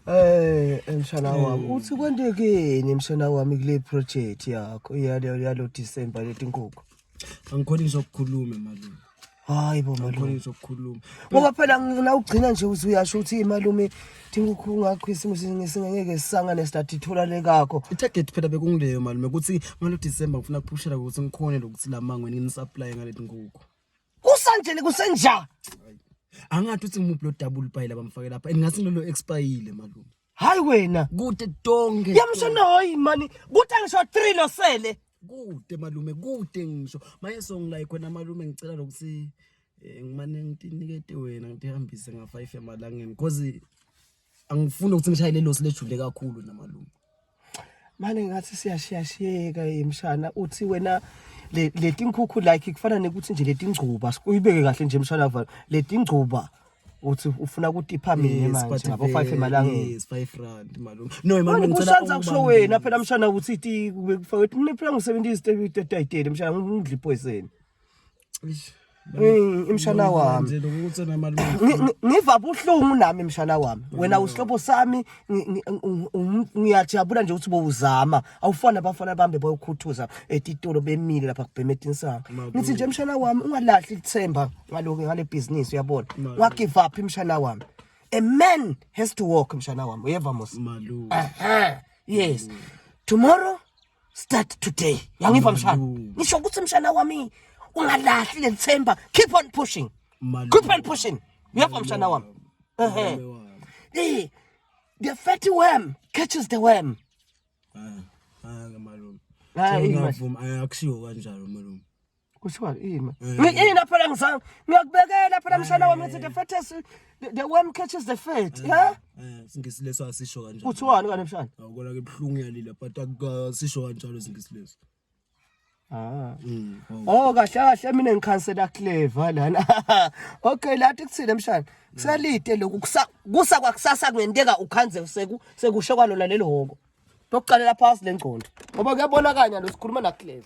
Eh mshana hmm. wami uthi kwentekeni mshana wami kule project yakho yalo yalo December letinkukhu. Angikhona izokukhuluma malume. Hayi bo malume. Angikhona izokukhuluma. Ngoba phela ngina ugcina nje uthi uyasho ukuthi malume inkukhu ngakho isimo singeke sisangane start ithola lekakho. Itarget phela bekungileyo malume ukuthi ngalo December ngifuna kuphushela ukuthi ngikhone lokuthi lamangweni ngini supply ngaletinkukhu. kusanjeni kusenjani angathi uthi ngimuphi lo double pie labamfake lapha and ngathi lolo expire malume hayi wena kude tonke yamshona hoyi mani kuthi angisho 3 losele kude malume kude ngisho maye songilayi khona malume ngicela lokuthi eh, ngimane nginikete wena ngitihambise nga-5 emalangeni cause angifuni ukuthi ngishayele losi lejule kakhulu namalume mane ngathi siyashiyashiyeka emshana uthi wena leti nkukhu like kufana nekuthi nje leti ngcuba uyibeke kahle nje emshana vala leti ngcuba uthi ufuna ukutipha mina manje ngabo 5 emalangeni yes 5 rand malume no imali ngicela ukusanza kusho wena phela mshana uthi ti kufake mina phela ngisebenzisa itetayitele mshana ngidla ipoison imshana wami ngiva buhlungu nami imshana wami wena usihlobo sami ngiyajabula nje ukuthi bowuzama awufana abafana bambe boyokhuthuza etitolo bemile lapha kubheme etinsanga ngithi nje mshana wami ungalahli ithemba ngaloku ngale bhizinisi uyabona wagive up imshana wami a man has to walk mshana wami uyeva mos yes tomorrow start today yangiva mshana ngisho ukuthi mshana wami ungalahli lelithemba keep on pushing keep on pushing uyapha mshana wami ehe eh the fatty worm catches the worm ah, ah, hayi malume hayi ngavuma akushiwo kanjalo malume kuthiwa ima mina phela ngizange ngiyakubekela phela mshana wami ngithi the fetus the worm catches the fat yeah singisi leso asisho kanjalo kuthiwani kani mshana awukona ke buhlungu yalila but akusisho kanjalo singisi leso Ah. Mm. Oh kahle kahle mina ngikhansela clever lana. Okay lathi kuthile mshana. Kusalite lokhu kusa kusa kwakusasa kungenteka ukhanze seku sekusho kwalona lelo hoko. Tokuqalela phansi lengcondo. Ngoba kuyabonakanya lo sikhuluma na clever.